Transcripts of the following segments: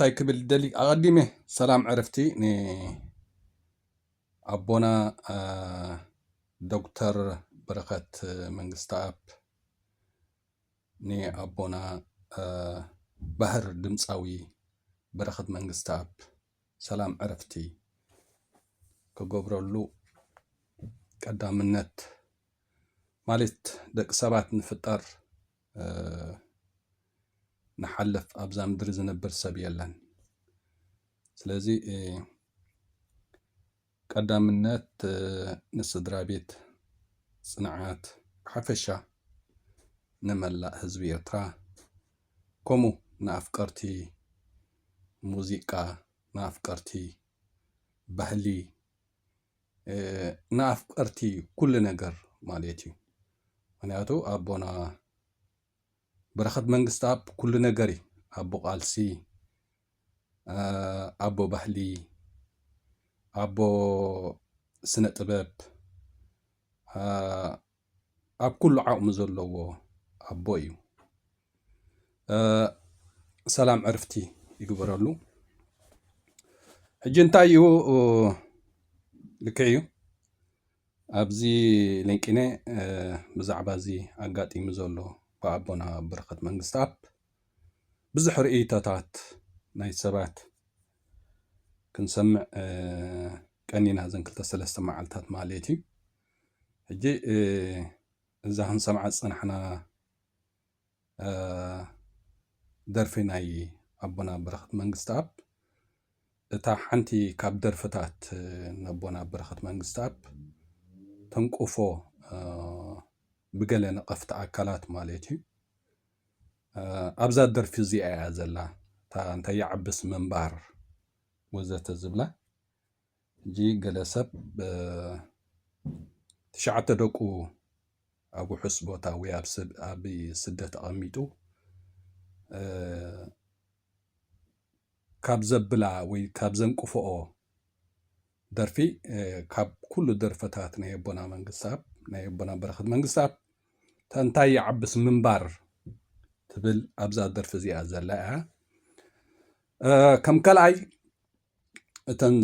እንታይ ክብል ደሊ ኣቐዲመ ሰላም ዕርፍቲ ንኣቦና ዶክተር በረኸት መንግስትኣብ ንኣቦና ባህር ድምጻዊ በረኸት መንግስተኣብ ሰላም ዕረፍቲ ክገብረሉ ቀዳምነት ማለት ደቂ ሰባት ንፍጠር ንሓልፍ ኣብዛ ምድሪ ዝነብር ሰብ የለን ስለዚ ቀዳምነት ንስድራ ቤት ጽንዓት ብሓፈሻ ንመላእ ህዝቢ ኤርትራ ከምኡ ንኣፍቀርቲ ሙዚቃ ንኣፍቀርቲ ባህሊ ንኣፍቀርቲ ኩሉ ነገር ማለት እዩ ምክንያቱ ኣቦና በረኸት መንግስትኣብ ኩሉ ነገር እዩ ኣቦ ቃልሲ ኣቦ ባህሊ ኣቦ ስነ ጥበብ ኣብ ኩሉ ዓቕሚ ዘለዎ ኣቦ እዩ ሰላም ዕርፍቲ ይግበረሉ ሕጂ እንታይ እዩ ልክዕ እዩ ኣብዚ ሊንቂነ ብዛዕባ እዚ ኣጋጢሙ ዘሎ ብኣቦና በረኸት መንግስትኣብ ብዙሕ ርእይቶታት ናይ ሰባት ክንሰምዕ ቀኒና እዘን ክልተ ሰለስተ መዓልታት ማለት እዩ ሕጂ እዛ ክንሰምዓ ዝጸናሕና ደርፊ ናይ ኣቦና በረኸት መንግስትኣብ እታ ሓንቲ ካብ ደርፍታት ነቦና በረኸት መንግስትኣብ ተንቁፎ ብገለ ነቐፍቲ ኣካላት ማለት እዩ ኣብዛ ደርፊ እዚኣ እያ ዘላ እታ እንታይ ይዓብስ ምንባር ወዘተ ዝብላ ሕጂ ገለ ሰብ ትሽዓተ ደቁ ኣብ ውሑስ ቦታ ወይ ኣብ ስደት ኣቐሚጡ ካብ ዘብላ ወይ ካብ ዘንቅፍኦ ደርፊ ካብ ኩሉ ደርፈታት ናይ ኣቦና መንግስታብ ናይ ኣቦና በረኸት መንግስታብ ተንታይ ይዓብስ ምንባር ትብል ኣብዛ ደርፊ እዚኣ ዘላ እያ ከም ካልኣይ እተን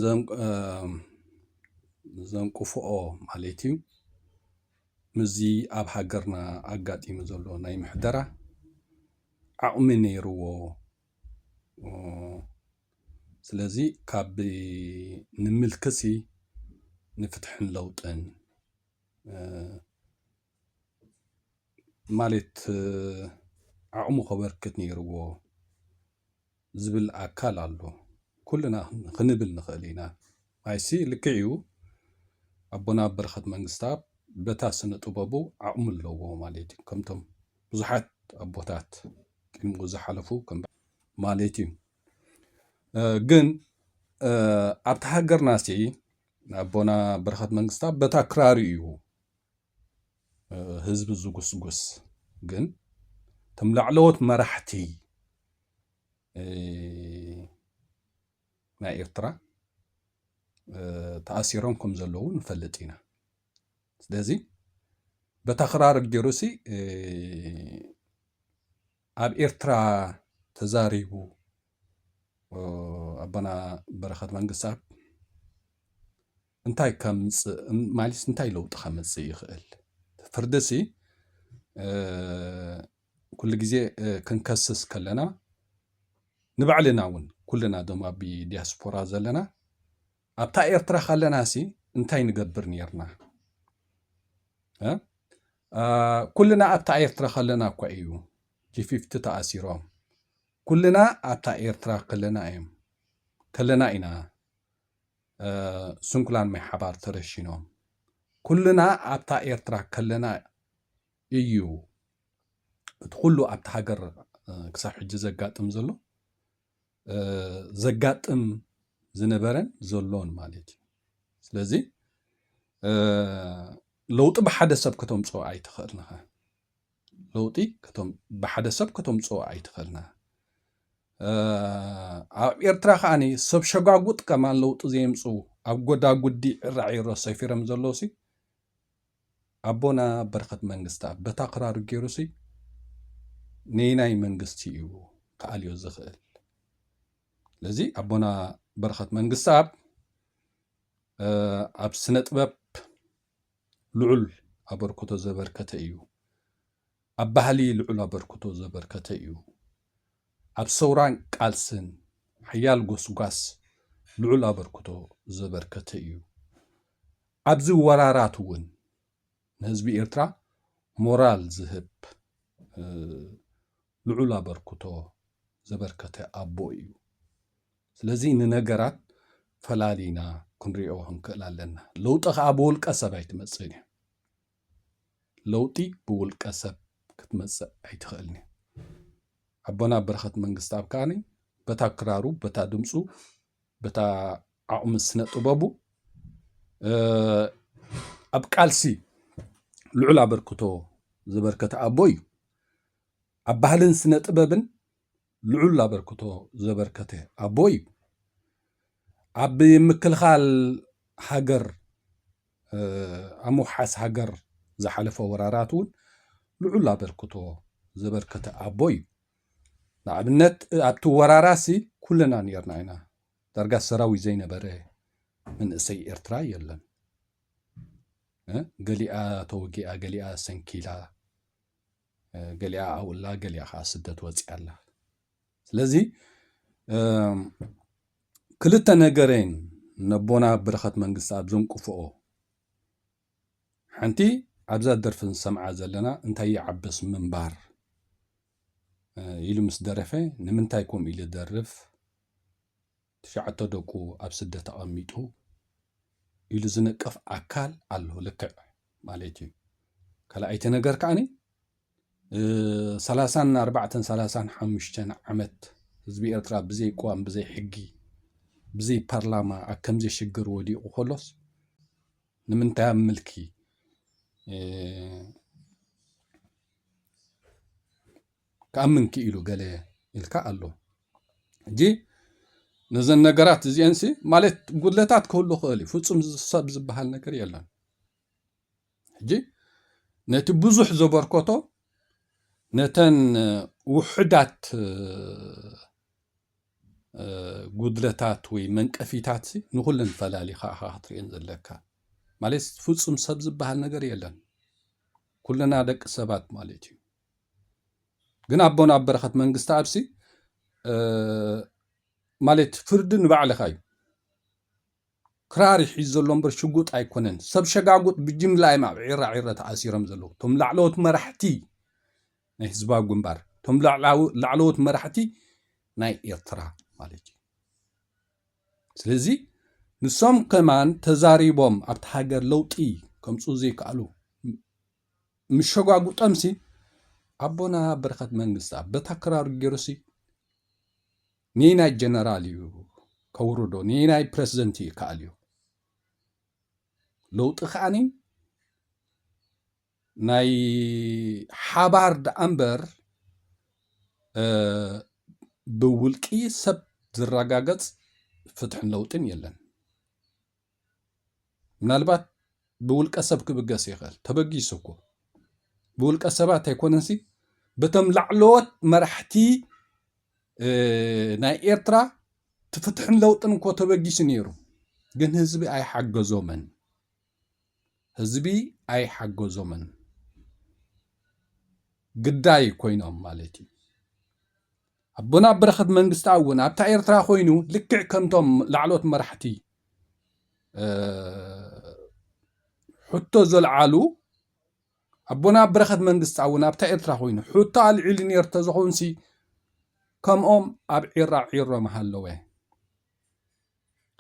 ዘንቅፍኦ ማለት እዩ ምስዚ ኣብ ሃገርና ኣጋጢሙ ዘሎ ናይ ምሕደራ ዓቕሚ ነይርዎ ስለዚ ካብ ንምልክሲ ንፍትሕን ለውጥን ማለት ዓቕሙ ከበርክት ነይርዎ ዝብል ኣካል ኣሎ ኩልና ኽንብል ንኽእል ኢና ኣይሲ ልክዕ እዩ ኣቦና በረኸት መንግስታኣብ በታ ስነ ጥበቡ ዓቕሚ ኣለዎ ማለት እዩ ከምቶም ብዙሓት ኣቦታት ቅድሚኡ ዝሓለፉ ከም ማለት እዩ ግን ኣብቲ ሃገርናሲ ኣቦና በረኸት መንግስታኣብ በታ ክራሩ እዩ ህዝቢ ዝጉስጉስ ግን እቶም ላዕለዎት መራሕቲ ናይ ኤርትራ ተኣሲሮም ከም ዘለዉ ንፈልጥ ኢና ስለዚ በታ ክራር ገይሩሲ ኣብ ኤርትራ ተዛሪቡ ኣቦና በረኸት መንግስታብ እንታይ ከምፅእ ማለትስ እንታይ ለውጢ ከምፅእ ይኽእል? ፍርድሲ ኩሉ ግዜ ክንከስስ ከለና ንባዕልና እውን ኩልና ዶም ኣብ ዲያስፖራ ዘለና ኣብታ ኤርትራ ካለናሲ እንታይ ንገብር ነርና? ኩልና ኣብታ ኤርትራ ከለና እኳ እዩ ጂፊፍቲ ተኣሲሮም ኩልና ኣብታ ኤርትራ ከለና እዮም ከለና ኢና ስንኩላን ማይ ሓባር ተረሺኖም ኩልና ኣብታ ኤርትራ ከለና እዩ እቲ ኩሉ ኣብቲ ሃገር ክሳብ ሕጂ ዘጋጥም ዘሎ ዘጋጥም ዝነበረን ዘሎን ማለት እዩ ስለዚ ለውጢ ብሓደ ሰብ ከተምፅኦ ኣይትኽእልንኸ ለውጢ ከቶም ብሓደ ሰብ ከተምጽኦ ኣይትኸልና ኣብ ኤርትራ ከዓኒ ሰብ ሸጓጉጥ ከማን ለውጢ ዘየምጽኡ ኣብ ጎዳጉዲ ዕራዒሮ ሰፊሮም ዘለውሲ ኣቦና በረኸት መንግስታ በታ ክራሩ ገይሩሲ ነይናይ መንግስቲ እዩ ክኣልዮ ዝኽእል ስለዚ ኣቦና በረኸት መንግስቲ ኣብ ኣብ ስነ ጥበብ ልዑል ኣበርክቶ ዘበርከተ እዩ። ኣብ ባህሊ ልዑል ኣበርክቶ ዘበርከተ እዩ። ኣብ ሰውራን ቃልስን ሓያል ጎስጓስ ልዑል ኣበርክቶ ዘበርከተ እዩ። ኣብዚ ወራራት እውን ንህዝቢ ኤርትራ ሞራል ዝህብ ልዑል ኣበርክቶ ዘበርከተ ኣቦ እዩ። ስለዚ ንነገራት ፈላሊና ክንሪኦ ክንክእል ኣለና። ለውጢ ከኣ ብውልቀ ሰብ ኣይትመጽእን እያ። ለውጢ ብውልቀ ሰብ ክትመጽእ ኣይትኽእልን እያ። ኣቦና በረኸት መንግስትኣብ ከኣ በታ ክራሩ፣ በታ ድምፁ፣ በታ ዓቕሚ ስነ ጥበቡ ኣብ ቃልሲ ልዑል ኣበርክቶ ዘበርከተ ኣቦ እዩ። ኣብ ባህልን ስነ ጥበብን ልዑል ኣበርክቶ ዘበርከተ ኣቦ እዩ። ኣብ ምክልኻል ሃገር፣ ኣብ ምውሓስ ሃገር ዝሓለፈ ወራራት እውን ልዑል ኣበርክቶ ዘበርከተ ኣቦ እዩ። ንኣብነት ኣብቲ ወራራሲ ኩልና ነርና ኢና። ዳርጋ ሰራዊት ዘይነበረ መንእሰይ ኤርትራ የለን። ገሊኣ ተወጊኣ ገሊኣ ሰንኪላ ገሊኣ ኣብኡላ ገሊኣ ከዓ ስደት ወፂኣ ኣላ ስለዚ ክልተ ነገረይን ነቦና ብረኸት መንግስቲ ኣብ ዘንቅፍኦ ሓንቲ ኣብዛ ደርፊ ንሰምዓ ዘለና እንታይ ይዓበስ ምንባር ኢሉ ምስ ደረፈ ንምንታይ ከምኡ ኢሉ ደርፍ ትሽዓተ ደቁ ኣብ ስደት ኣቐሚጡ ኢሉ ዝንቀፍ ኣካል ኣሎ ልክዕ ማለት እዩ ካልኣይቲ ነገር ከዓኒ ሰላሳን ኣርባዕተን ሰላሳን ሓሙሽተን ዓመት ህዝቢ ኤርትራ ብዘይ ቅዋም ብዘይ ሕጊ ብዘይ ፓርላማ ኣብ ከምዚ ሽግር ወዲቑ ከሎስ ንምንታይ ኣብ ምልኪ ክኣምን ክኢሉ ገለ ኢልካ ኣሎ ሕጂ ነዘን ነገራት እዚኤንሲ ማለት ጉድለታት ክህሉ ክእል እዩ ፍጹም ሰብ ዝበሃል ነገር የለን ሕጂ ነቲ ብዙሕ ዘበርኮቶ ነተን ውሕዳት ጉድለታት ወይ መንቀፊታት ንኩለን ፈላሊኻ ኢኻ ክትርእየን ዘለካ ማለት ፍፁም ሰብ ዝበሃል ነገር የለን ኩልና ደቂ ሰባት ማለት እዩ ግን ኣቦና ኣብ በረኸት መንግስተኣብሲ ማለት ፍርዲ ንባዕልኻ እዩ ክራር ይሒዝ ዘሎ እምበር ሽጉጥ ኣይኮነን ሰብ ሸጋጉጥ ብጅምላ እዮም ኣብ ዒራ ዒረ ተኣሲሮም ዘለዉ እቶም ላዕለዎት መራሕቲ ናይ ህዝባዊ ግንባር እቶም ላዕለዎት መራሕቲ ናይ ኤርትራ ማለት እዩ ስለዚ ንሶም ከማን ተዛሪቦም ኣብቲ ሃገር ለውጢ ከምፁ ዘይከኣሉ ምስ ሸጓጉጦምሲ ኣቦና በረኸት መንግስታብ በታ ክራሩ ገይሩሲ ንየናይ ጀነራል እዩ ከውርዶ ንየናይ ፕረዚደንት እዩ ይከኣል እዩ ለውጢ ከዓኒ ናይ ሓባር ደኣ እምበር ብውልቂ ሰብ ዝረጋገፅ ፍትሕን ለውጥን የለን ምናልባት ብውልቀ ሰብ ክብገስ ይኽእል ተበጊሱ እኮ ብውልቀ ሰባት ኣይኮነንሲ በቶም ላዕለዎት መራሕቲ ናይ ኤርትራ ትፍትሕን ለውጥን እኮ ተበጊሱ ነይሩ ግን ህዝቢ ኣይሓገዞምን ህዝቢ ኣይሓገዞምን ግዳይ ኮይኖም ማለት እዩ ኣቦና በረኸት መንግስትኣብ እውን ኣብታ ኤርትራ ኮይኑ ልክዕ ከምቶም ላዕሎት መራሕቲ ሕቶ ዘልዓሉ ኣቦና በረኸት መንግስትኣብ እውን ኣብታ ኤርትራ ኮይኑ ሕቶ ኣልዒሉ ነይሩ ተዝኾንሲ ከምኦም ኣብ ዒራ ዒሮ ምሃለወ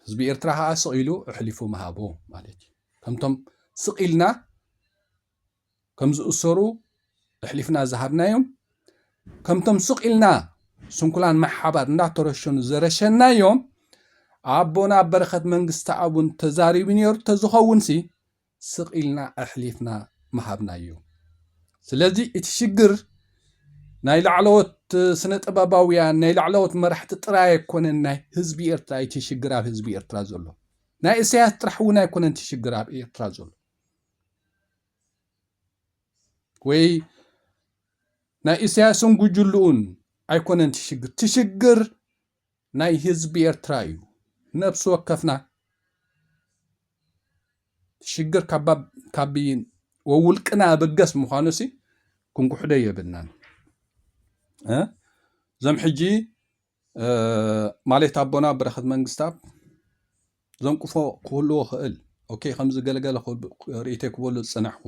ህዝቢ ኤርትራ ከዓ ስቕ ኢሉ ኣሕሊፉ ምሃቦ ማለት እዩ ከምቶም ስቕ ኢልና ከም ዝእሰሩ ኣሕሊፍና ዝሃብናዮም፣ ከምቶም ስቕ ኢልና ስንኩላን ማይ ሓባር እንዳተረሸኑ ዘረሸናዮም፣ ኣቦና በረኸት መንግስተኣብ እውን ተዛሪቡ ነይሩ ተዝኸውንሲ ስቕ ኢልና ኣሕሊፍና ምሃብናዮ። ስለዚ እቲ ሽግር ናይ ላዕለዎት ስነ ጥበባውያን ናይ ላዕለዎት መራሕቲ ጥራይ ኣይኮነን ናይ ህዝቢ ኤርትራ እቲ ሽግር ኣብ ህዝቢ ኤርትራ ዘሎ ናይ እሰያስ ጥራሕ እውን ኣይኮነን እቲ ሽግር ኣብ ኤርትራ ዘሎ ወይ ናይ ኢሳያስን ጉጅልኡን ኣይኮነን ትሽግር ትሽግር ናይ ህዝቢ ኤርትራ እዩ ነብሲ ወከፍና ትሽግር ካብ ወውልቅና ኣበገስ ምዃኑ ሲ ክንጉሕዶ የብልናን እዞም ሕጂ ማሌት ኣቦና በረኸት መንግስታብ ዘንቁፎ ክህልዎ ክእል ኦኬ ከምዚ ገለገለ ርእቴ ክበሉ ዝፅናሕኩ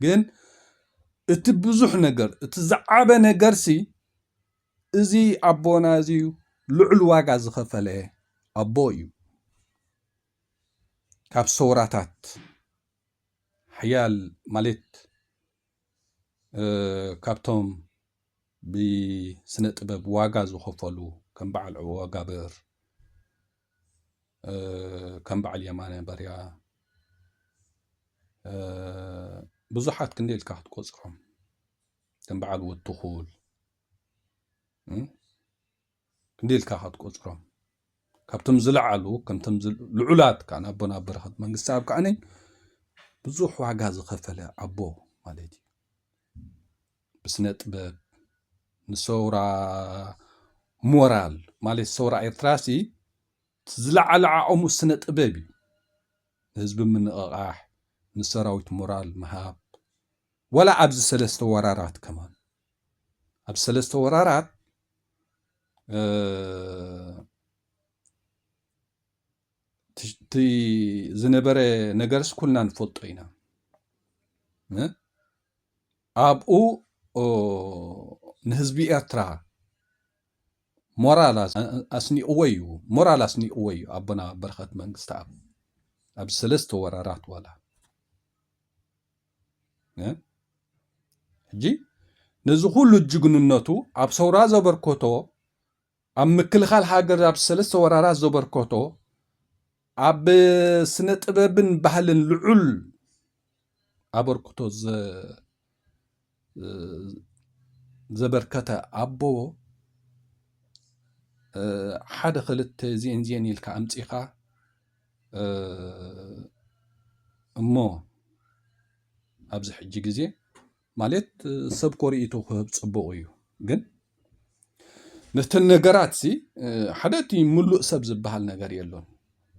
ግን እቲ ብዙሕ ነገር እቲ ዝዓበ ነገርሲ እዚ ኣቦና እዚ ልዑል ዋጋ ዝኸፈለ ኣቦ እዩ ካብ ሰውራታት ሓያል ማለት ካብቶም ብስነ ጥበብ ዋጋ ዝኸፈሉ ከም በዓል ዑወጋብር ከም በዓል የማነ በርያ ብዙሓት ክንደይ ኢልካ ክትቆፅሮም ከም በዓል ወትኹል ክንደይ ኢልካ ኢኻ ትቆጽሮም? ካብቶም ዝለዓሉ ከምቶም ልዑላት ከኣ ኣቦና ኣብ በረኸት መንግስቲ ኣብ ከኣ ብዙሕ ዋጋ ዝኸፈለ ኣቦ ማለት እዩ። ብስነ ጥበብ ንሰውራ ሞራል ማለት ሰውራ ኤርትራሲ ዝለዓለ ዓቕሙ ስነ ጥበብ እዩ ንህዝቢ ምንቕቓሕ ንሰራዊት ሞራል ምሃብ ወላ ኣብዚ ሰለስተ ወራራት ከማን ኣብ ሰለስተ ወራራት እቲ ዝነበረ ነገርስ ኩልና ንፈልጦ ኢና ኣብኡ ንህዝቢ ኤርትራ ሞራል ኣስኒቕዎ እዩ ሞራል ኣስኒቕዎ እዩ ኣቦና በረኸት መንግስቲ ኣብ ኣብ ሰለስተ ወራራት ዋላ ሕጂ ነዚ ኩሉ ጅግንነቱ ኣብ ሰውራ ዘበርከቶ ኣብ ምክልኻል ሃገር ኣብ ሰለስተ ወራራት ዘበርከቶ ኣብ ስነ ጥበብን ባህልን ልዑል ኣበርክቶ ዘበርከተ ኣቦዎ ሓደ ክልተ ዜን ዜን ኢልካ ኣምፂኻ እሞ ኣብዚ ሕጂ ግዜ ማለት ሰብ ኮርኢቱ ክህብ ፅቡቕ እዩ ግን ነተን ነገራት ሲ ሓደ እቲ ምሉእ ሰብ ዝበሃል ነገር የሎን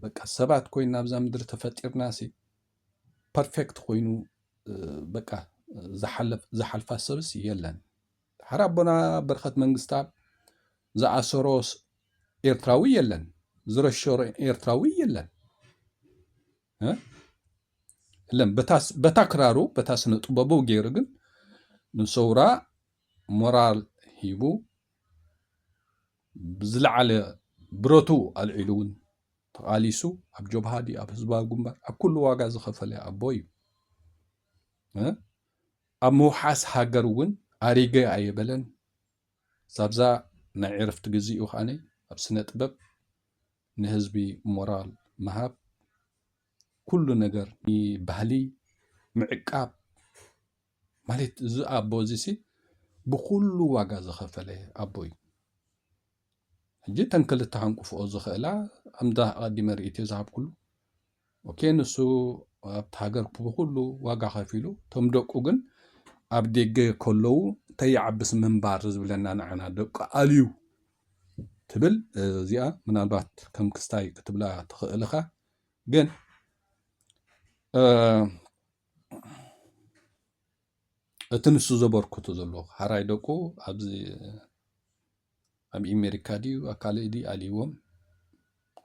በቃ ሰባት ኮይና ኣብዛ ምድሪ ተፈጢርና ሲ ፐርፌክት ኮይኑ በቃ ዝሓልፋ ሰብስ የለን። ሓር ኣቦና በረኸት መንግስታብ ዝኣሰሮ ኤርትራዊ የለን፣ ዝረሸሮ ኤርትራዊ የለን። ለም በታ ክራሩ በታ ስነ ጥበቡ ገይሩ ግን ንሰውራ ሞራል ሂቡ ብዝለዓለ ብረቱ ኣልዒሉ እውን ተቓሊሱ ኣብ ጆብሃ ድዩ ኣብ ህዝባዊ ግንባር ኣብ ኩሉ ዋጋ ዝኸፈለ ኣቦ እዩ ኣብ ምውሓስ ሃገር እውን ኣሪገ ኣየበለን ዛብዛ ናይ ዕርፍቲ ግዜኡ ከዓኒ ኣብ ስነ ጥበብ ንህዝቢ ሞራል ምሃብ ኩሉ ነገር ባህሊ ምዕቃብ ማለት እዚ ኣቦ እዚሲ ብኩሉ ዋጋ ዝኸፈለ ኣቦ እዩ ሕጂ እተን ክልተ ሃንቁፍኦ ዝኽእላ ኣምዳ ኣቐዲመ ርእትዮ ዝሃብኩሉ ኦኬ ንሱ ኣብቲ ሃገር ብኩሉ ዋጋ ከፊሉ እቶም ደቁ ግን ኣብ ደገ ከለዉ ተይዓብስ ምንባር ዝብለና ንዓና ደቂ ኣልዩ ትብል እዚኣ ምናልባት ከም ክስታይ ክትብላ ትኽእልኻ ግን እቲ ንሱ ዘበርክቶ ዘሎ ሃራይ ደቁ ኣብዚ ኣብ ኣሜሪካ ድዩ ኣብ ካልእ ድዩ ኣልዎም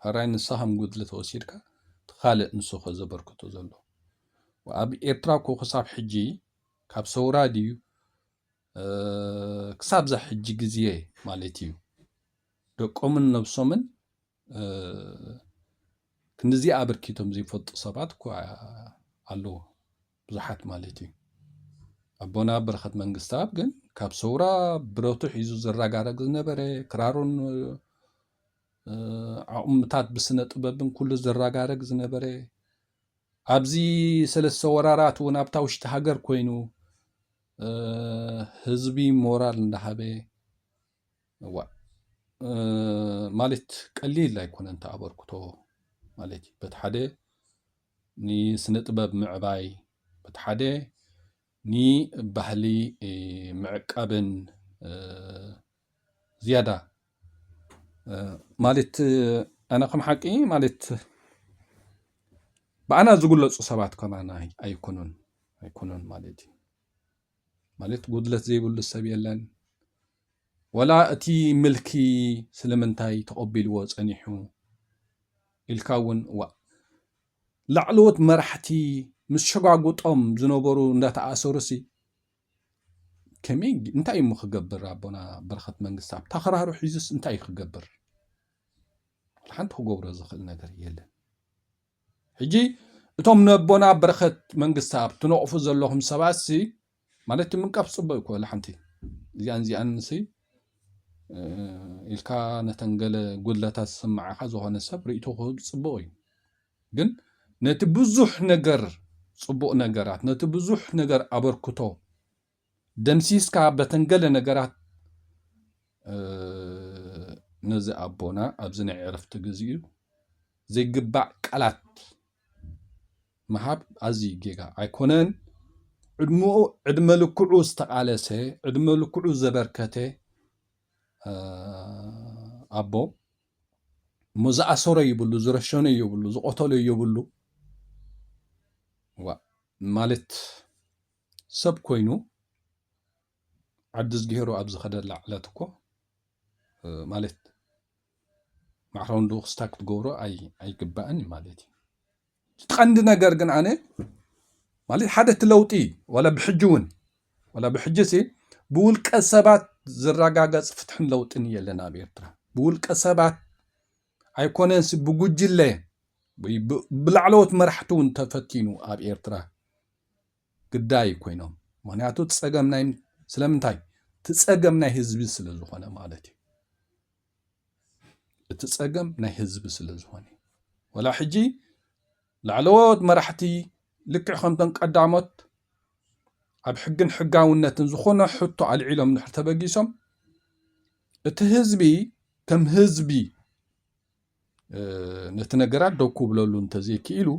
ሃራይ ንስኻ ከም ጉድሊ ተወሲድካ እቲ ካልእ ንሱ ዘበርክቶ ዘሎ ኣብ ኤርትራ እኮ ክሳብ ሕጂ ካብ ሰውራ ድዩ ክሳብዛ ሕጂ ግዜ ማለት እዩ ደቆምን ነብሶምን ክንድዚ ኣበርኪቶም ዘይፈልጡ ሰባት እኳ ኣለዉ ብዙሓት ማለት እዩ ኣቦና በረኸት መንግስትኣብ ግን ካብ ሰውራ ብረቱ ሒዙ ዘረጋረግ ዝነበረ ክራሩን ዓቕምታት ብስነ ጥበብን ኩሉ ዘረጋረግ ዝነበረ ኣብዚ ሰለስተ ወራራት እውን ኣብታ ውሽጢ ሃገር ኮይኑ ህዝቢ ሞራል እንዳሃበ እዋእ ማለት ቀሊል ኣይኮነን እቲ ኣበርክቶ ማለት እዩ በቲ ሓደ ንስነ ጥበብ ምዕባይ በቲ ሓደ ንባህሊ ምዕቃብን ዝያዳ ማለት ኣነ ከም ሓቂ ማለት ብኣና ዝግለፁ ሰባት ከማና ኣይኮኑን ኣይኮኑን ማለት እዩ ማለት ጉድለት ዘይብሉ ሰብ የለን ወላ እቲ ምልኪ ስለምንታይ ተቐቢልዎ ጸኒሑ ኢልካ እውን ዋእ ላዕለዎት መራሕቲ ምስ ሸጓጉጦም ዝነበሩ እንዳተኣሰሩሲ ከመይ እንታይ እሞ ክገብር ኣቦና በረኸት መንግስቲ ኣብ ተኸራሩ ሒዙስ እንታይ ክገብር ሓንቲ ክገብሮ ዝኽእል ነገር የለን ሕጂ እቶም ነቦና በረኸት መንግስታኣብ ትነቕፉ ዘለኹም ሰባትሲ ማለት ምንቃፍ ጽቡቕ እዩ እኮ ለሓንቲ እዚኣን እዚኣንሲ ኢልካ ነተን ገለ ጉድለታት ዝስምዓኻ ዝኾነ ሰብ ርእይቶ ክህብ ጽቡቕ እዩ ግን ነቲ ብዙሕ ነገር ጽቡቕ ነገራት ነቲ ብዙሕ ነገር ኣበርክቶ ደምሲስካ በተን ገለ ነገራት ነዚ ኣቦና ኣብዚ ናይ ዕረፍቲ ግዚኡ ዘይግባእ ቃላት ምሃብ ኣዝዩ ጌጋ ኣይኮነን። ዕድመኡ ዕድመ ልክዑ ዝተቓለሰ ዕድመ ልክዑ ዘበርከተ ኣቦ እሞ ዝኣሰሮ ይብሉ ዝረሸኖ ይብሉ ዝቆተሎ ይብሉ ማለት ሰብ ኮይኑ ዓዲዝጊሄሩ ኣብ ዝኸደላ ዕለት እኮ ማለት ማዕረውን ልኡኽ ስታ ክትገብሮ ኣይግባእን እዩ ማለት እዩ ቀንዲ ነገር ግን ኣነ ማለት ሓደ እቲ ለውጢ ዋላ ብሕጂ እውን ዋላ ብሕጂ ሲ ብውልቀ ሰባት ዝረጋገፅ ፍትሕን ለውጥን የለን ኣብ ኤርትራ ብውልቀ ሰባት ኣይኮነንሲ ብጉጅለ ወይ ብላዕለዎት መራሕቲ እውን ተፈቲኑ ኣብ ኤርትራ ግዳይ ኮይኖም ምክንያቱ ፀገም ናይ ስለምንታይ እቲ ፀገም ናይ ህዝቢ ስለ ዝኾነ ማለት እዩ እቲ ፀገም ናይ ህዝቢ ስለ ዝኾነ ወላ ሕጂ ላዕለዎት መራሕቲ ልክዕ ከምቶም ቀዳሞት ኣብ ሕግን ሕጋውነትን ዝኾነ ሕቶ ኣልዒሎም ድሕር ተበጊሶም እቲ ህዝቢ ከም ህዝቢ ነቲ ነገራት ደው ክብለሉ እንተዘይክኢሉ፣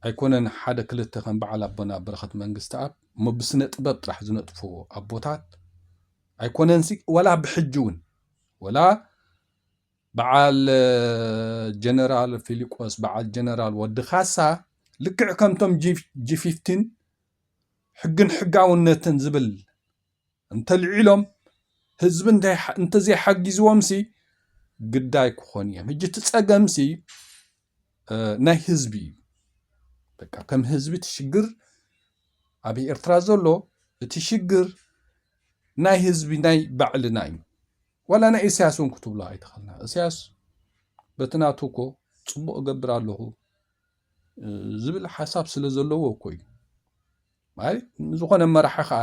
ኣይኮነን ሓደ ክልተ ከም በዓል ኣቦና በረኸት መንግስተኣብ እሞ ብስነ ጥበብ ጥራሕ ዝነጥፉ ኣቦታት ኣይኮነንሲ ወላ ብሕጂ እውን ወላ በዓል ጀነራል ፊሊቆስ በዓል ጀነራል ወዲ ካሳ ልክዕ ከምቶም ጂ ፊፍቲን ሕግን ሕጋውነትን ዝብል እንተልዒሎም ህዝቢ እንተዘይሓጊዝዎምሲ ግዳ ኣይክኾኑ እዮም። ሕጂ እቲ ጸገምሲ ናይ ህዝቢ እዩ። በቃ ከም ህዝቢ እቲ ሽግር ኣብ ኤርትራ ዘሎ እቲ ሽግር ናይ ህዝቢ ናይ ባዕልና እዩ። ዋላ ናይ እሰያስ እውን ክትብሎ ኣይትኽእልና። እሰያስ በቲ ናቱ እኮ ጽቡቕ እገብር ኣለኹ ዝብል ሓሳብ ስለ ዘለዎ እኮ እዩ ማለት ዝኾነ መራሒ ከዓ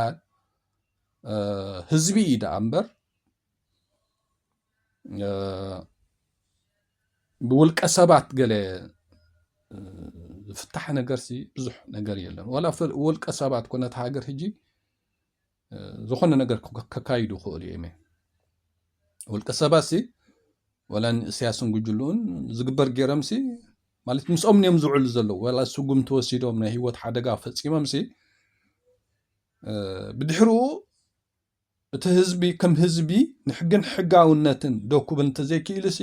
ህዝቢ እዩ ደኣ እምበር ብውልቀ ሰባት ገለ ዝፍታሕ ነገርሲ ብዙሕ ነገር የለን ዋላ ውልቀ ሰባት ኮነት ሃገር ሕጂ ዝኾነ ነገር ከካይዱ ይኽእሉ እዮም እዮም ውልቀ ሰባት ሲ ወላ ንእስያስን ጉጅልኡን ዝግበር ገይሮም ሲ ማለት ምስኦም እዮም ዝውዕሉ ዘለዉ ወላ ስጉም ተወሲዶም ናይ ህይወት ሓደጋ ፈፂሞም ሲ ብድሕርኡ እቲ ህዝቢ ከም ህዝቢ ንሕግን ሕጋውነትን ደኩብ እንተዘይክኢሉ ሲ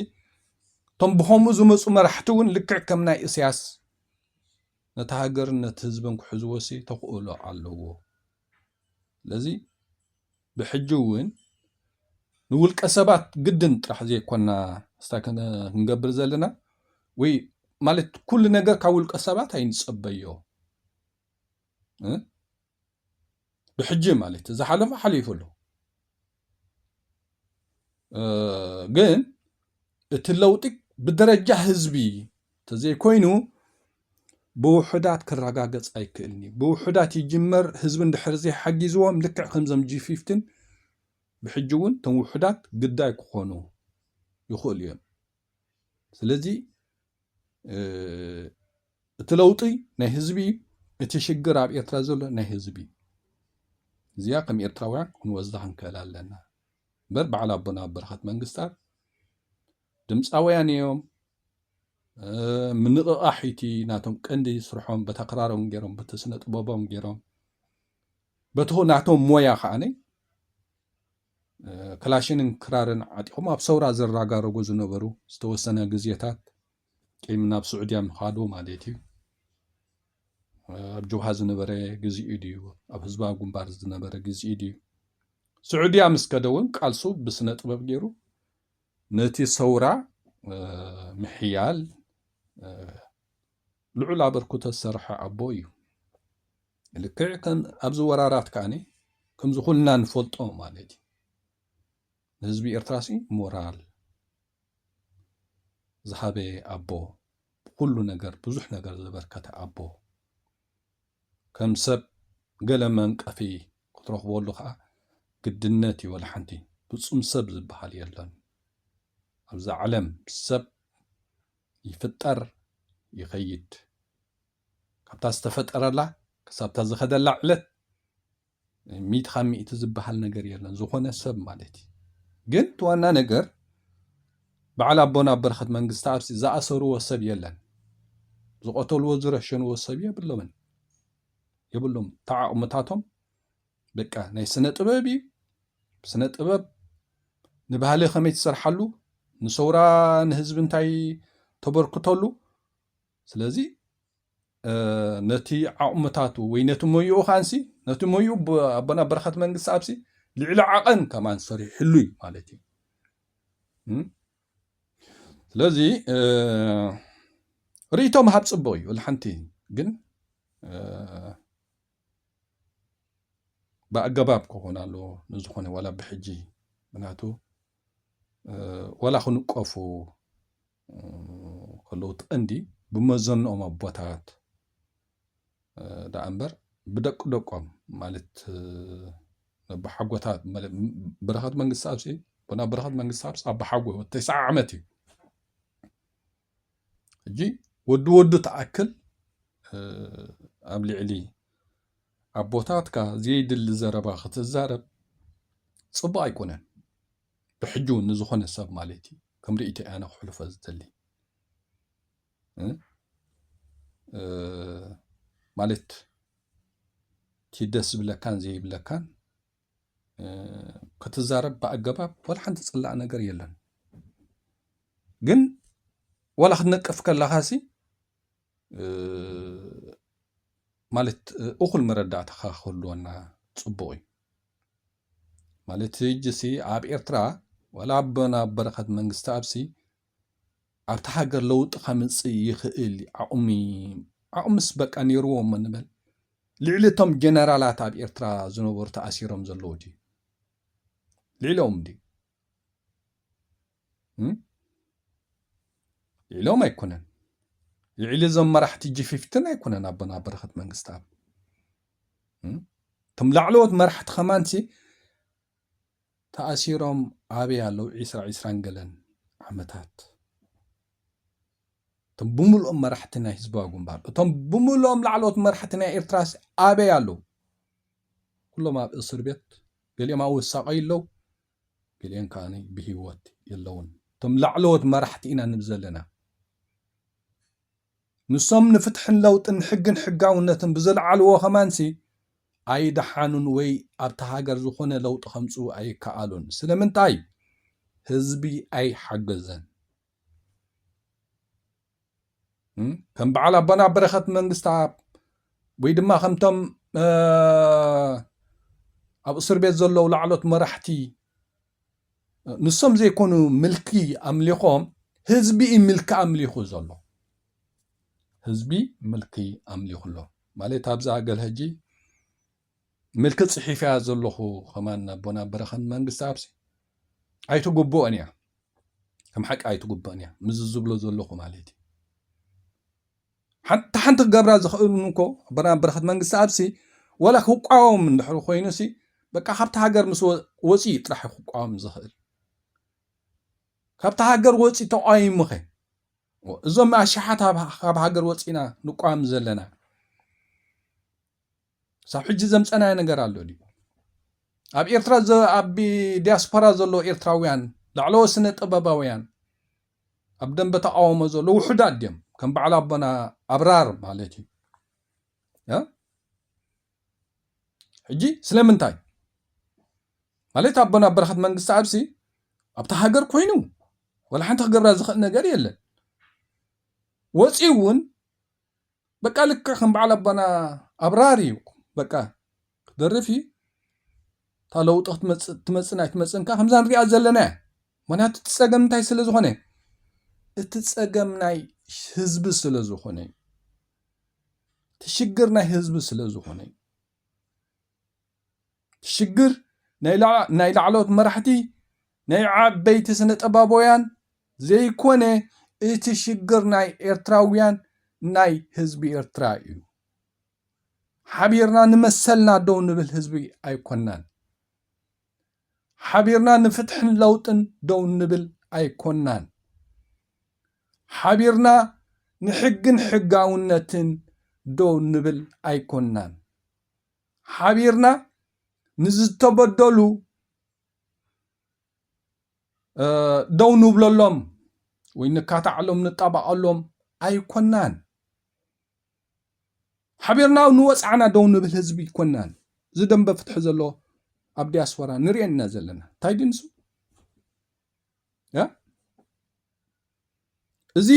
እቶም ብከምኡ ዝመፁ መራሕቲ እውን ልክዕ ከም ናይ እስያስ ነቲ ሃገርን ነቲ ህዝብን ክሕዝዎ ሲ ተኽእሎ ኣለዎ ስለዚ ብሕጂ እውን ንውልቀ ሰባት ግድን ጥራሕ ዘይኮና ስታ ክንገብር ዘለና ወይ ማለት ኩሉ ነገር ካብ ውልቀ ሰባት ኣይንፀበዮ ብሕጂ ማለት ዝሓለፈ ሓሊፉ ኣሎ ግን እቲ ለውጢ ብደረጃ ህዝቢ ተዘይኮይኑ ብውሑዳት ክረጋገፅ ኣይክእልን እዩ ብውሑዳት ይጅመር ህዝቢ እንድሕር ዘይሓጊዝዎም ልክዕ ከምዞም ጂ ፊፍቲን ብሕጂ እውን እቶም ውሑዳት ግዳይ ክኾኑ ይኽእሉ እዮም ስለዚ እቲ ለውጢ ናይ ህዝቢ እዩ እቲ ሽግር ኣብ ኤርትራ ዘሎ ናይ ህዝቢ እዩ እዚኣ ከም ኤርትራውያን ክንወዛ ክንክእል ኣለና እምበር በዓል ኣቦና በረኸት መንግስታት ድምፃውያን እዮም ምንቕቓሕ እቲ ናቶም ቀንዲ ስርሖም በታ ክራሮም ገይሮም በቲ ስነ ጥበቦም ገይሮም በቲ ናቶም ሞያ ከዓነይ ክላሽንን ክራርን ዓጢቖም ኣብ ሰውራ ዝራጋረጉ ዝነበሩ ዝተወሰነ ግዜታት ቂም ናብ ስዑድያ ምኻዱ ማለት እዩ ኣብ ጀብሃ ዝነበረ ግዜኡ ድዩ ኣብ ህዝባዊ ግንባር ዝነበረ ግዜኡ ድዩ ስዑድያ ምስ ከደ እውን ቃልሱ ብስነ ጥበብ ገይሩ ነቲ ሰውራ ምሕያል ልዑል ኣበርክቶ ዝሰርሐ ኣቦ እዩ ልክዕ ከም ኣብዚ ወራራት ከኣ ከምዚ ኩልና ንፈልጦ ማለት እዩ ንህዝቢ ኤርትራሲ ሞራል ዝሃበ ኣቦ ብኩሉ ነገር ብዙሕ ነገር ዘበርከተ ኣቦ ከም ሰብ ገለ መንቀፊ ክትረኽበሉ ከዓ ግድነት እዩ ወላ ሓንቲ ፍጹም ሰብ ዝበሃል የለን ኣብዛ ዓለም ሰብ ይፍጠር ይኸይድ ካብታ ዝተፈጠረላ ክሳብታ ዝኸደላ ዕለት ሚእቲ ካብ ሚእቲ ዝበሃል ነገር የለን ዝኾነ ሰብ ማለት እዩ ግን እቲ ዋና ነገር በዓል ኣቦና ኣብ በረኸት መንግስቲ ኣብሲ ዝኣሰርዎ ሰብ የለን ዝቐተልዎ ዝረሸንዎ ሰብ የብሎምን የብሎም ተዓቕምታቶም በቃ ናይ ስነ ጥበብ እዩ ስነ ጥበብ ንባህሊ ከመይ ትሰርሓሉ ንሰውራ ንህዝቢ እንታይ ተበርክተሉ ስለዚ ነቲ ዓቕምታቱ ወይ ነቲ ሞይኡ ኻንሲ ነቲ ሞይኡ ኣቦና በረኸት መንግስቲ ኣብሲ ልዕሊ ዓቐን ከማን ሰሪሕሉ እዩ ማለት እዩ ስለዚ ርእቶ ምሃብ ፅቡቕ እዩ ልሓንቲ ግን ብኣገባብ ክኾን ኣለዎ ንዝኾነ ዋላ ብሕጂ ምክንያቱ ዋላ ክንቀፉ ከለዉ እቲ ቀንዲ ብመዘንኦም ኣቦታት ደኣ እምበር ብደቂ ደቆም ማለት ኣቦሓጎታት በረኸት መንግስትኣብሲ ቡና በረኸት መንግስትኣብሲ ኣቦሓጎ ተስዓ ዓመት እዩ ሕጂ ወዲ ወዱ ተኣክል ኣብ ልዕሊ ኣቦታትካ ዘይድሊ ዘረባ ክትዛረብ ፅቡቅ ኣይኮነን ብሕጂ እውን ንዝኾነ ሰብ ማለት እዩ ከም ርእቶ እያ ኣነ ክሕልፎ ዝደሊ ማለት እቲ ደስ ዝብለካን ዘይብለካን ክትዛረብ ብኣገባብ ወላ ሓንቲ ዝፅላእ ነገር የለን ግን ወላ ክትነቅፍ ከለካ ሲ ማለት እኹል መረዳእታ ክህልወና ፅቡቅ እዩ ማለት ሕጅሲ ኣብ ኤርትራ ዋላ ኣቦና ኣብ በረኸት መንግስትኣብሲ ኣብቲ ሃገር ለውጢ ከምጽእ ይኽእል ዓቕሚ ዓቕምስ በቃ ነይርዎ እሞ ንበል ልዕሊ እቶም ጀነራላት ኣብ ኤርትራ ዝነበሩ ተኣሲሮም ዘለዉ ድዩ ልዕሊኦም ድዩ ኢሎም ኣይኮነን ልዕሊ እዞም መራሕቲ ጅፊፍትን ኣይኮነን ኣቦና በረኸት መንግስትኣብ እቶም ላዕለዎት መራሕቲ ከማንሲ ተኣሲሮም ኣበይ ኣለዉ ዒስራ ዒስራን ገለን ዓመታት እቶም ብምልኦም መራሕቲ ናይ ህዝባዊ ግንባር እቶም ብምልኦም ላዕለዎት መራሕቲ ናይ ኤርትራ ኣበይ ኣለዉ ኩሎም ኣብ እስር ቤት ገሊኦም ኣወሳቀዩ ኣለዉ ገሊኤን ከኣ ብህይወት የለውን። እቶም ላዕለዎት መራሕቲ ኢና ንብል ዘለና፣ ንሶም ንፍትሕን ለውጥን ሕግን ሕጋውነትን ብዘልዓልዎ ከማንሲ ኣይደሓኑን ወይ ኣብታ ሃገር ዝኾነ ለውጢ ከምጽኡ ኣይከኣሉን። ስለምንታይ? ህዝቢ ኣይሓገዘን። ከም በዓል ኣቦና በረኸት መንግስትኣብ ወይ ድማ ከምቶም ኣብ እስር ቤት ዘለዉ ላዕሎት መራሕቲ ንሶም ዘይኮኑ ምልኪ ኣምሊኾም ህዝቢ እዩ ምልኪ ኣምሊኹ ዘሎ ህዝቢ ምልኪ ኣምሊኹ ኣሎ ማለት ኣብዛ ገል ሕጂ ምልክት ጽሒፈያ ዘለኹ ከማን ናቦና በረኸን መንግስትኣብሲ ኣይትግብኦን እያ ከም ሓቂ ኣይትግብኦን እያ ምዝ ዝብሎ ዘለኹ ማለት እዩ ሓንቲ ሓንቲ ክገብራ ዝኽእሉን እኮ ኣቦና በረኸት መንግስቲ ኣብሲ ወላ ክቋወም እንድሕር ኮይኑሲ በቃ ካብቲ ሃገር ምስ ወፂ ጥራሕ ክቋወም ዝኽእል ካብቲ ሃገር ወፂ ተቋይሙኸ እዞም ኣሽሓት ካብ ሃገር ወፂና ንቋም ዘለና ሳብ ሕጂ ዘምፀናዮ ነገር ኣሎ ድዩ? ኣብ ኤርትራ ኣብ ዲያስፖራ ዘሎ ኤርትራውያን ላዕለዎ ስነ ጥበባውያን ኣብ ደንበ ተቃውሞ ዘሎ ውሑዳት ድዮም ከም በዓል ኣቦና ኣብራር ማለት እዩ ሕጂ ስለምንታይ ማለት ኣቦና በረኸት መንግስቲ ኣብሲ ኣብቲ ሃገር ኮይኑ ወላ ሓንቲ ክገብራ ዝኽእል ነገር የለን ወፂኡ እውን በቃ ልክዕ ከም በዓል ኣቦና ኣብራር እዩ በቃ ክደርፍ እዩ እታ ለውጢ ክትመፅእ ትመፅን ኣይትመፅን ከዓ ከምዛ ንሪኣ ዘለና እያ ምክንያቱ እቲ ፀገም እንታይ ስለ ዝኾነ እቲ ፀገም ናይ ህዝቢ ስለ ዝኾነ እቲ ሽግር ናይ ህዝቢ ስለ ዝኾነ ሽግር ናይ ላዕለዎት መራሕቲ ናይ ዓበይቲ ስነጠባቦውያን ዘይኮነ እቲ ሽግር ናይ ኤርትራውያን ናይ ህዝቢ ኤርትራ እዩ ሓቢርና ንመሰልና ደው ንብል ህዝቢ ኣይኮናን ሓቢርና ንፍትሕን ለውጥን ደው ንብል ኣይኮናን ሓቢርና ንሕግን ሕጋውነትን ደው ንብል ኣይኮናን ሓቢርና ንዝተበደሉ ደው ንብለሎም ወይ ንካታዕሎም ንጣባቐሎም ኣይኮናን። ሓቢርና ንወፃዕና ደው ንብል ህዝቢ ይኮናን እዚ ደንበ ፍትሒ ዘሎ ኣብ ዲያስፖራ ንሪኦ ኢና ዘለና እንታይ ድንሱ እዚ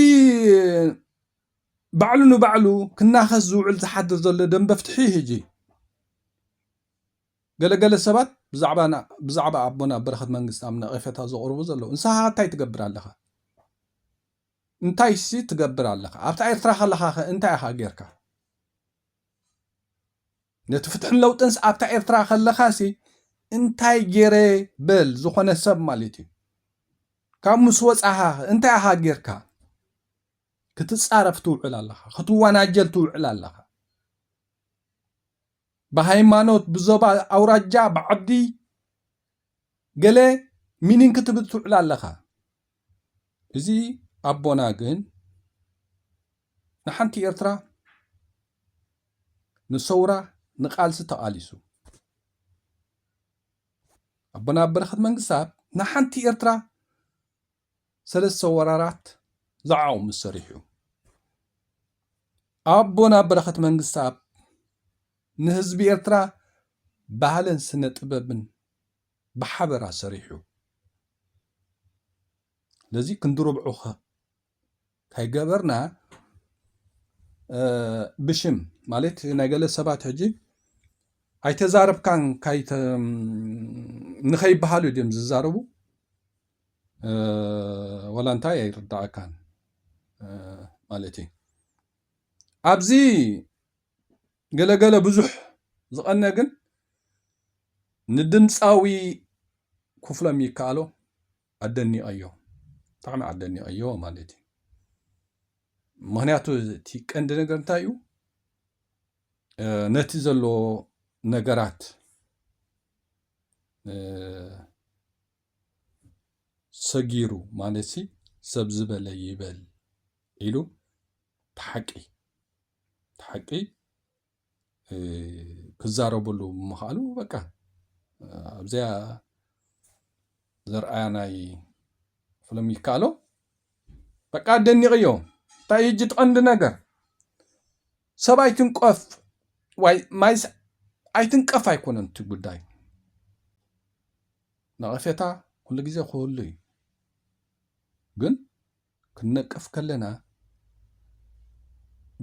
ባዕሉ ንባዕሉ ክናኸስ ዝውዕል ዝሓድር ዘሎ ደንበ ፍትሒ ህጂ ገለገለ ሰባት ብዛዕባ ብዛዕባ ኣቦና በረኸት መንግስታም ነቐፈታ ዘቕርቡ ዘለዉ ንስኻ እንታይ ትገብር ኣለኻ እንታይሲ ትገብር ኣለኻ ኣብታ ኤርትራ ከለኻ ከ እንታይ ኢኻ ጌርካ ነቲ ፍትሕን ለውጥንስ ኣብታ ኤርትራ ከለኻሲ እንታይ ጌረ በል ዝኾነ ሰብ ማለት እዩ ካብ ምስ ወጻኻ እንታይ ኣኻ ጌርካ ክትጻረፍ ትውዕል ኣለኻ ክትወናጀል ትውዕል ኣለኻ ብሃይማኖት ብዞባ ኣውራጃ ብዓዲ ገለ ሚኒን ክትብል ትውዕል ኣለኻ እዚ ኣቦና ግን ንሓንቲ ኤርትራ ንሰውራ ንቃልሲ ተቓሊሱ ኣቦና በረኸት መንግስታብ ንሓንቲ ኤርትራ ሰለስተ ወራራት ዝዓቑ ምስ ሰሪሑ ኣቦና በረኸት መንግስታብ ንህዝቢ ኤርትራ ባህልን ስነ ጥበብን ብሓበራ ሰሪሑ ለዚ ክንዲ ርብዑ ከይገበርና ብሽም ማለት ናይ ገለ ሰባት ሕጂ ኣይተዛረብካን ንኸይበሃሉ ድም ዝዛረቡ ወላ እንታይ ኣይርዳእካን ማለት እዩ ኣብዚ ገለ ገለ ብዙሕ ዝቐነ ግን ንድምጻዊ ኩፍሎም ይከኣሎ ኣደኒቐዮ ብጣዕሚ ኣደኒቐዮ ማለት እዩ ምክንያቱ እቲ ቀንዲ ነገር እንታይ እዩ ነቲ ዘሎ ነገራት ሰጊሩ ማለት ሲ ሰብ ዝበለ ይበል ኢሉ ብሓቂ ሓቂ ክዛረበሉ ምኽኣሉ በቃ ኣብዚኣ ዘርኣያ ናይ ፍልም ይከኣሎ በቃ ኣደኒቕዮ እንታይ እዩ እጅ ትቐንዲ ነገር ሰብ ኣይትንቀፍ ዋይ ማይ ኣይትንቀፍ ኣይኮነን እቲ ጉዳይ ነቐፌታ ኩሉ ግዜ ክህሉ እዩ ግን ክንነቅፍ ከለና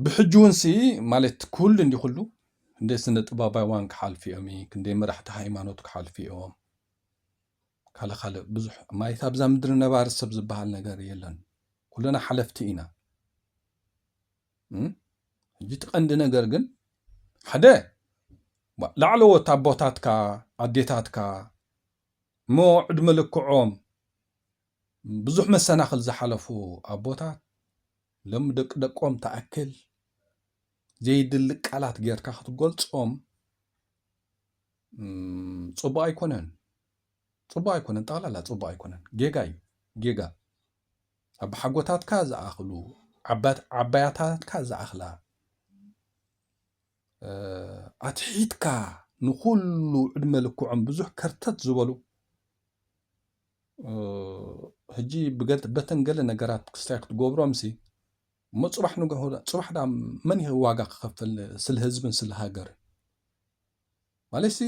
ብሕጂ እውን ሲ ማለት ኩሉ እንዲ ኩሉ ክንደይ ስነ ጥበባውያን ክሓልፉ እዮም ክንደይ መራሕቲ ሃይማኖት ክሓልፉ እዮም ካልእ ካልእ ብዙሕ ማለት ኣብዛ ምድሪ ነባሪ ሰብ ዝበሃል ነገር የለን ኩልና ሓለፍቲ ኢና ሕጂ እቲ ቀንዲ ነገር ግን ሓደ ላዕለዎት ኣቦታትካ ኣዴታትካ እሞ ዕድመ ልክዖም ብዙሕ መሰናኽል ዝሓለፉ ኣቦታት ሎሚ ደቂ ደቆም ትኣክል ዘይድሊ ቃላት ጌርካ ክትገልጾም ጽቡቕ ኣይኮነን ጽቡቕ ኣይኮነን ጠቕላላ ጽቡቕ ኣይኮነን ጌጋ እዩ ጌጋ ኣቦሓጎታትካ ዝኣኽሉ ዓባያታትካ ዝኣኽላ ኣትሒትካ ንኹሉ ዕድመ ልክዖም ብዙሕ ከርተት ዝበሉ ሕጂ በተን ገለ ነገራት ክስታይ ክትገብሮምሲ እሞ ፅባሕ ንግሆ ፅባሕ ዳ መን ይህ ዋጋ ክኸፍል ስለ ህዝብን ስለ ሃገር ማለትሲ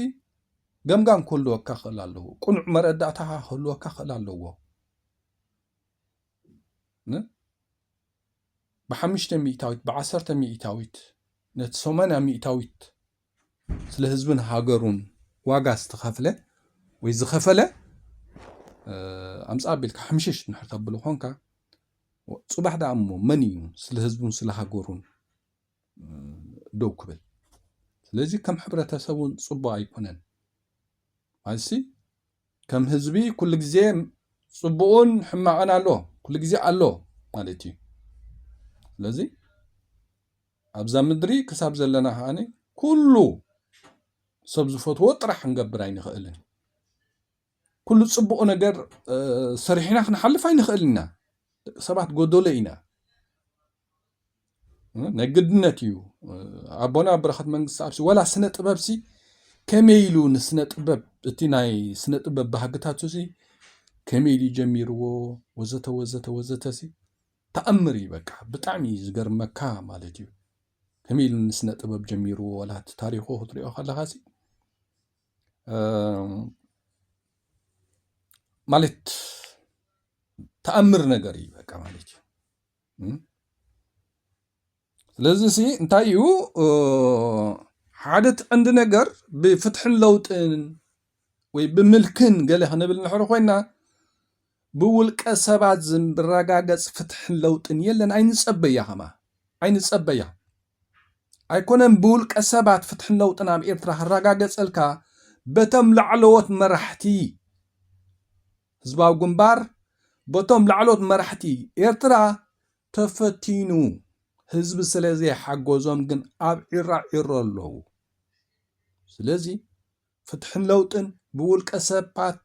ገምጋም ክህልወካ ክእል ኣለዎ ቁኑዕ መረዳእታ ክህልወካ ክእል ኣለዎ ብሓሙሽተ ሚእታዊት ብዓሰርተ ሚእታዊት ነቲ ሰማንያ ሚእታዊት ስለ ህዝቡን ሃገሩን ዋጋ ዝተኸፍለ ወይ ዝኸፈለ ኣምፃ ኣቢልካ ሕምሽሽ ንድሕር ተብሎ ኮንካ ፅባሕ ደኣ እሞ መን እዩ ስለ ህዝቡን ስለ ሃገሩን ደው ክብል ስለዚ ከም ሕብረተሰብ እውን ፅቡቅ ኣይኮነን ማለትሲ ከም ህዝቢ ኩሉ ግዜ ፅቡቅን ሕማቅን ኣሎ ኩሉ ግዜ ኣሎ ማለት እዩ ስለዚ ኣብዛ ምድሪ ክሳብ ዘለና ከኣ ኩሉ ሰብ ዝፈትዎ ጥራሕ ክንገብር ኣይንኽእልን። ኩሉ ጽቡቕ ነገር ሰሪሕና ክንሓልፍ ኣይንኽእል ኢና። ደቂ ሰባት ጎደሎ ኢና። ናይ ግድነት እዩ ኣቦና በረኸት መንግስቲ ኣብሲ ወላ ስነ ጥበብሲ ከመይ ኢሉ ንስነ ጥበብ እቲ ናይ ስነ ጥበብ ባህግታቱ ሲ ከመይ ኢሉ ጀሚርዎ ወዘተ ወዘተ ወዘተ ሲ ታኣምር ኢዩ በቃ ብጣዕሚ ኢዩ ዝገርመካ ማለት ኢዩ ከመይ ኢሉ ንስነ ጥበብ ጀሚርዎ ወላ እቲ ታሪኹ ክትሪኦ ከለኻሲ ማለት ታኣምር ነገር ኢዩ በቃ ማለት ኢዩ። ስለዚ ሲ እንታይ እዩ ሓደ ትዕንዲ ነገር ብፍትሕን ለውጥን ወይ ብምልክን ገለ ክንብል ንሕር ኮይና ብውልቀ ሰባት ዝረጋገፅ ፍትሕን ለውጥን የለን ኣይንፀበያ ከማ ኣይንፀበያ ኣይኮነን ብውልቀ ሰባት ፍትሕን ለውጥን ኣብ ኤርትራ ክረጋገፀልካ በቶም ላዕለዎት መራሕቲ ህዝባዊ ግንባር በቶም ላዕለዎት መራሕቲ ኤርትራ ተፈቲኑ ህዝቢ ስለ ዘይሓጎዞም ግን ኣብ ዒራ ዒሮ ኣለዉ። ስለዚ ፍትሕን ለውጥን ብውልቀ ሰባት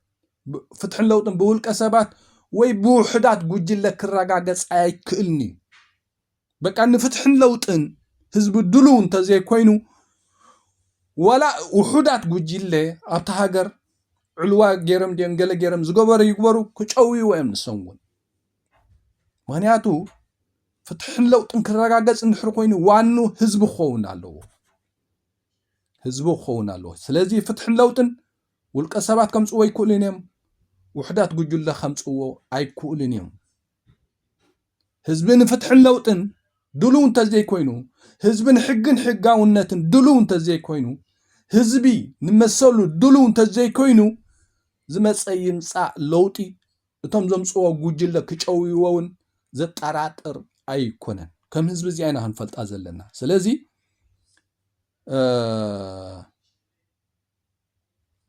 ፍትሕን ለውጥን ብውልቀ ሰባት ወይ ብውሕዳት ጉጅለ ክረጋገጽ ኣይክእልን እዩ። በቃ ንፍትሕን ለውጥን ህዝቢ ድሉው እንተዘይኮይኑ ዋላ ውሑዳት ጉጅለ ኣብቲ ሃገር ዕልዋ ገይሮም ድዮም ገለ ገይሮም ዝገበሩ ይግበሩ ክጨውይዎ እዮም ንሶም እውን ምክንያቱ ፍትሕን ለውጥን ክረጋገፅ እንድሕር ኮይኑ ዋኑ ህዝቢ ክኸውን ኣለዎ ህዝቢ ክኸውን ኣለዎ ስለዚ ፍትሕን ለውጥን ውልቀ ሰባት ከምፅዎ ኣይክእሉን እዮም ውሕዳት ጉጅለ ከምፅዎ ኣይክእሉን እዮም ህዝቢ ንፍትሕን ለውጥን ድሉው እንተዘይኮይኑ ህዝቢ ንሕግን ሕጋውነትን ድሉው እንተዘይኮይኑ ህዝቢ ንመሰሉ ድሉው እንተዘይኮይኑ ዝመፀ ይምፃእ ለውጢ እቶም ዘምጽዎ ጉጅለ ክጨውይዎ ውን ዘጠራጥር ኣይኮነን ከም ህዝቢ እዚኣ ኢና ክንፈልጣ ዘለና ስለዚ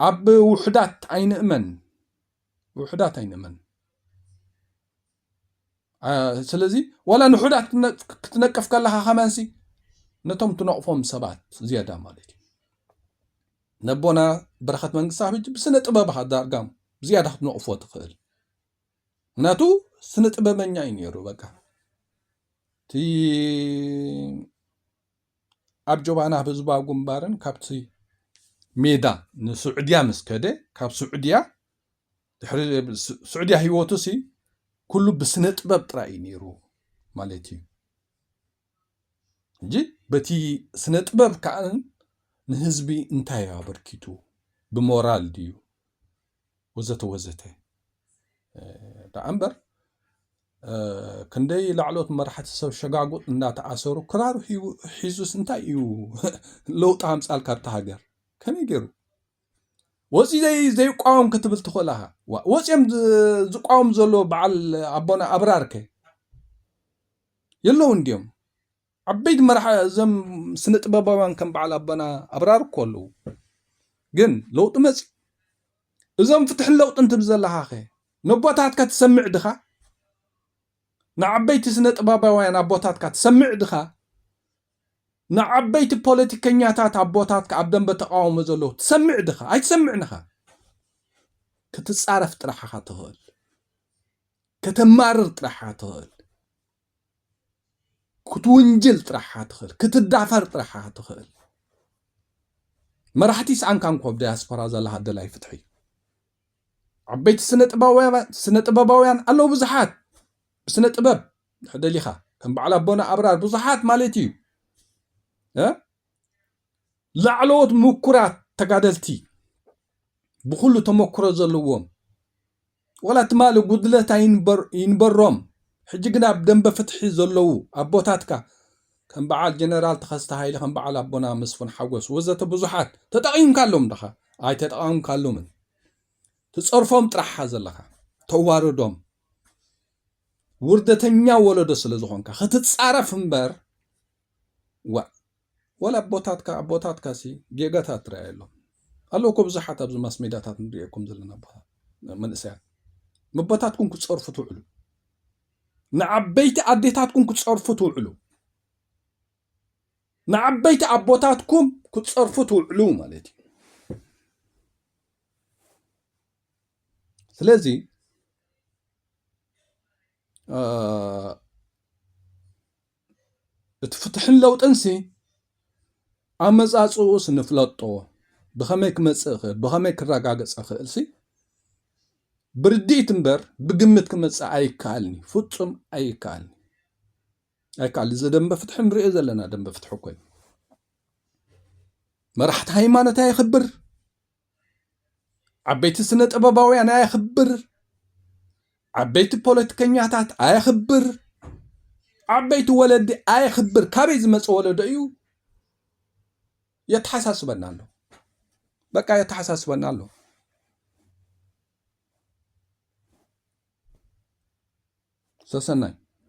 ኣብ ውሕዳት ኣይንእመን ውሕዳት ኣይንእመን ስለዚ ዋላ ንሑዳት ክትነቅፍ ከለካ ከመንሲ ነቶም ትነቕፎም ሰባት ዝያዳ ማለት እዩ ነቦና በረኸት መንግስታብ ሕጂ ብስነ ጥበብኻ ዳርጋ ብዝያዳ ክትነቕፎ ትኽእል ምክንያቱ ስነ ጥበበኛ እዩ ነይሩ በቃ እቲ ኣብ ጆባና ህዝባዊ ግንባርን ካብቲ ሜዳ ንስዑድያ ምስ ከደ ካብ ስዑድያ ድሕሪ ስዑድያ ህይወቱ ሲ ኩሉ ብስነ ጥበብ ጥራይ እዩ ነይሩ ማለት እዩ ሕጂ በቲ ስነ ጥበብ ከዓ ንህዝቢ እንታይ እዩ ኣበርኪቱ ብሞራል ድዩ ወዘተ ወዘተ ደኣ እምበር ክንደይ ላዕሎት መራሕቲ ሰብ ሸጋጉጥ እንዳተኣሰሩ ክራሩ ሒዙስ እንታይ እዩ ለውጢ ኣምፃልካ ኣብቲ ሃገር ከመይ ገይሩ ወፂ ዘይቋወም ክትብል ትኽእል ኢኻ ወፂኦም ዝቋወም ዘሎ በዓል ኣቦና ኣብራር ከ የለዉን ድዮም? ዓበይቲ መራሒ እዞም ስነ ጥበባውያን ከም በዓል ኣቦና ኣብራር እኮ ኣለዉ። ግን ለውጢ መጽዩ። እዞም ፍትሕን ለውጥን ትብል ዘለኻኸ ነቦታትካ ትሰምዕ ድኻ? ንዓበይቲ ስነ ጥበባውያን ኣቦታትካ ትሰምዕ ድኻ? ንዓበይቲ ፖለቲከኛታት ኣቦታትካ ኣብ ደንበ ተቃውሞ ዘለዉ ትሰምዕ ድኻ? ኣይትሰምዕን ኢኻ። ክትጻረፍ ጥራሕ ኢኻ ትኽእል። ከተማርር ጥራሓ ትኽእል፣ ክትውንጅል ጥራሓ ትኽእል፣ ክትዳፈር ጥራሓ ትኽእል። መራሕቲ ይስኣንካ እንኮ ኣብ ዳያስፖራ ዘለኻ ደላይ ፍትሒ ዓበይቲ ስነ ጥበባውያን ኣለዉ ብዙሓት ብስነ ጥበብ ደሊኻ ከም በዓል ኣቦና ኣብራር ብዙሓት ማለት እዩ ላዕለዎት ምኩራት ተጋደልቲ ብኩሉ ተመክሮ ዘለዎም ዋላ ትማሊ ጉድለት ኣይንበሮም ሕጂ ግን ኣብ ደምበ ፍትሒ ዘለዉ ኣቦታትካ ከም በዓል ጀነራል ተኸስተ ሃይለ ከም በዓል ኣቦና መስፉን ሓጎስ ወዘተ ብዙሓት ተጠቒምካሎም ዳኻ ኣይተጠቐምካሎምን ትጸርፎም ጥራሓ ዘለኻ ተዋርዶም ውርደተኛ ወለዶ ስለ ዝኾንካ ክትጻረፍ እምበር ዋእ ወላ ኣቦታትካ ኣቦታትካ ሲ ጌጋታት ትረኣየሎም ኣለዉ እኮ ብዙሓት ኣብዚ ማስ ሜዳታት ንሪኤኩም ዘለና ኣቦታት መንእሰያት መቦታትኩም ክፀርፉ ትውዕሉ ንዓበይቲ ኣዴታትኩም ክፀርፉ ትውዕሉ ንዓበይቲ ኣቦታትኩም ክፀርፉ ትውዕሉ ማለት እዩ ስለዚ እቲ ፍትሕን ለውጥንሲ ኣመጻጽኡስ ንፍለጦ ብኸመይ ክመጽእ ይኽእል ብኸመይ ክረጋገጽ ይኽእል ሲ ብርድኢት እምበር ብግምት ክመጽእ ኣይከኣልኒ ፍጹም ኣይከኣልኒ ኣይከኣል እዚ ደንበ ፍትሒ ንሪኦ ዘለና ደንበ ፍትሒ ኮይኑ መራሕቲ ሃይማኖት ኣየኽብር ዓበይቲ ስነ ጥበባውያን ኣየኽብር፣ ዓበይቲ ፖለቲከኛታት ኣየኽብር፣ ዓበይቲ ወለዲ ኣየኽብር ካበይ ዝመፀ ወለዶ እዩ የተሓሳስበና ኣሎ። በቃ የተሓሳስበና ኣሎ። ሰሰናይ